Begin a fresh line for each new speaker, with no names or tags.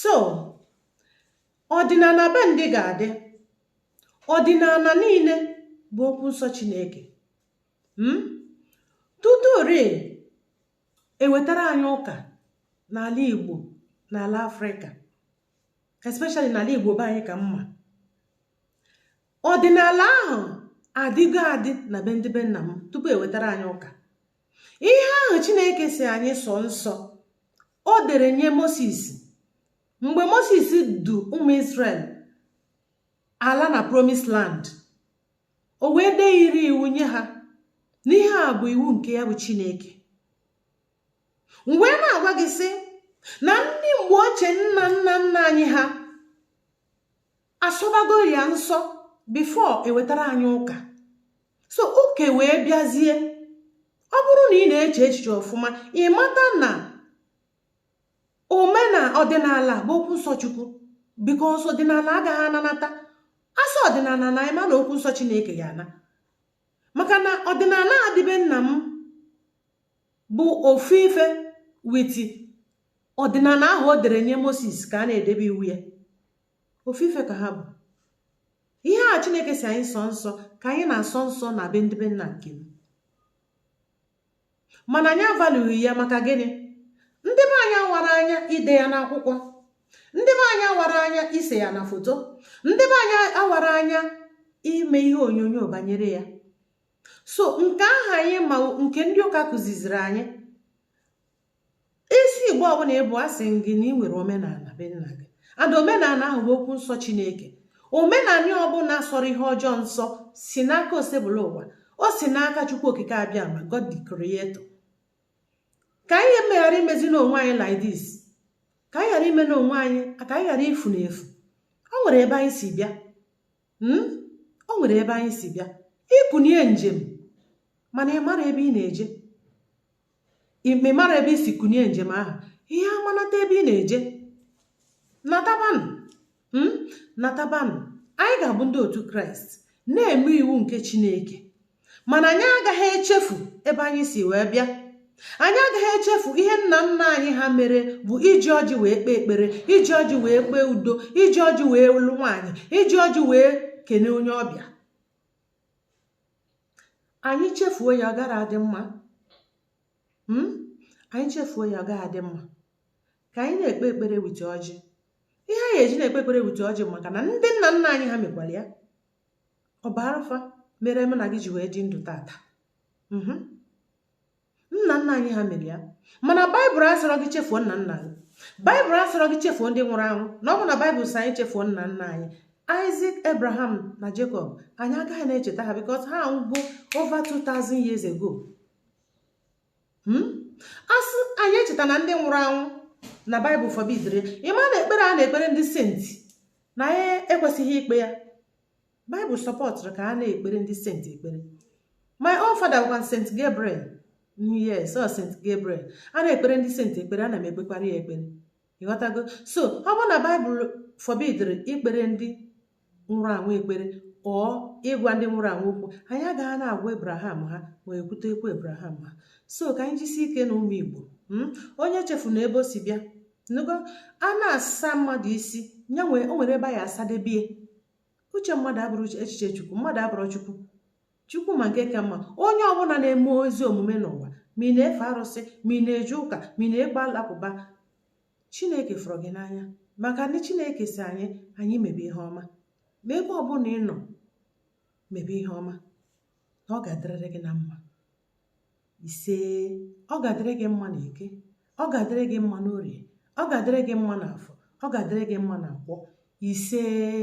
so ọdịnala be ndị ga-adị ọdịnala niile bụ okwu nsọ chineke hmm? tutu ori ewetara anyị ụka n'ala igbo n'ala afrịka especially n'ala igbo be anyị ka m ma ọdịnala ahụ adịgo adị na be ndị be nna m tupu ewetara anyị ụka ihe ahụ chineke si anyị sọ nsọ o dere nye moses mgbe moses du ụmụ israel ala na promise land o wee dee iri iwu nye ha na ihe a bụ iwu nke ya bụ chineke m wee na-agwa gị sị na ndị mgbe ochie nna nna nna anyị ha asọbago ya nsọ before ewetara anyị ụka so ụka e wee bịazie ọ bụrụ na ị na-eche echiche ọfụma ị mata na omena ọdịnala bụ okwu nsọ chukwu because ọdịnala agaghị ananata a sị ọdịnala naa ị ma na okwu nsọ chineke ya ana maka na ọdịnala a dị be nna m bụ ofu ife with ọdịnala ahụ o dere nye moses ka a na-edebe iwu ya ofu ife ka ha bụ ihe a chineke si anyị sọ nsọ ka anyị na-asọ nsọ na be ndị be nna nke m mana anyị amalụghị ya maka gịnị ndị be anyị awara anya ide ya n'akwụkwọ ndị be anyị awara anya ise ya na foto ndị be anyị awara anya ime ihe onyonyo banyere ya so nke aha anyị ma nke ndị ụka kụziziri anyị isi igbo ọbụla ị bụ a sị gị na ị nwere omenala be nna gị and omenala ahụ bụ okwu nsọ chineke omenala ọbụla sọrọ ihe ọjọọ nsọ si n'aka osebụlụwa o si n'aka chukwu okike abịama god the creator ka anyị emeghara imezi n'onwe anyị like this ka anyị ghara ime n'onwe anyị ka anyị ghara ifu na efu o nwere ebe anyị si bịa hmm? o nwere ebe anyị si bịa i kunie njem mana ị mara ebe ị na-eje ị mara ebe i si kunie njem ahụ ihe amanata ebe ị na-eje natabanụ hmm? natabanụ anyị ga-abụ ndị otu kraịst na-eme iwu nke chineke mana anyị agaghị echefu ebe anyị si wee bịa anyị agaghị echefu ihe nna nna anyị ha mere bụ iji ọjị wee kpee ekpere iji ọjị wee kpee udo iji ọjị wee lụ nwaanyị iji ọjị wee kene onye ọbịa anyị chefuo ya ọ gara adị mma hmm? anyị chefuo ya ọ gaghị adị mma ka anyị na-ekpe ekpere with ọjị ihe anyị eji na-ekpe ekpere with ọjị maka na ndị nna nna anyị ha mekwara ya ọ bụ arafa mere m na gị ji wee dị ndụ tata hmm? nna nna anyị ha mere ya mana baịbụl asịrọ gị chefuo nna nna gị baịbụl asịrọ gị chefuo ndị nwụrụ anwụ na ọ bụ na baịbụl sị anyị chefuo nna nna anyị Isaac Abraham na Jacob anyị agaghị na-echeta ha because ha anwụgo over 2000 years ago hmm? a sị anyị echetana ndị nwụrụ anwụ na baịbụl forbidiri ya ị ma na ekpere a na-ekpere ndị senti na anyị ekwesịghị ikpe ya Bible supportụrụ ka a na-ekpere ndị saint ekpere my own father was Saint Gabriel yes ọ Saint Gabriel a na-ekpere ndị saint ekpere ana m ekpekwara ya ekpere ị ghọtago so ọ bụ na Bible forbidiri ikpere ndị nwụrụ anwụ ekpere or ịgwa ndị nwụrụ anwụ okwu anyị agaghị na-agwa Abraham ha ma e kwute okwu Abraham ha so ka anyị jisi ike na ụmụ Igbo hmm? onye echefuna ebe o si bịa nụgo a na-asa mmadụ isi nya nwee o nwere ebe ya asadebie uche mmadụ abụrọ echiche chukwu mmadụ abụrọ chukwu chukwu ma nke ka mma onye ọbụla na-eme ezi omume n'ụwa ma ị na-efe arụsị ma ị na-eje ụka ma ị na-ekpe alakụba chineke fụrụ gị n'anya maka na chineke sị anyị anyị mebe ihe ọma ma ebe ọbụla ị nọ mebe ihe ọma na ọ ga-adịrịrị gị na mma isee ọ ga-adịrị gị mma na eke ọ ga-adịrị gị mma n'orie ọ ga-adịrị gị mma na afọ ọ ga-adịrị gị mma na nkwọ isee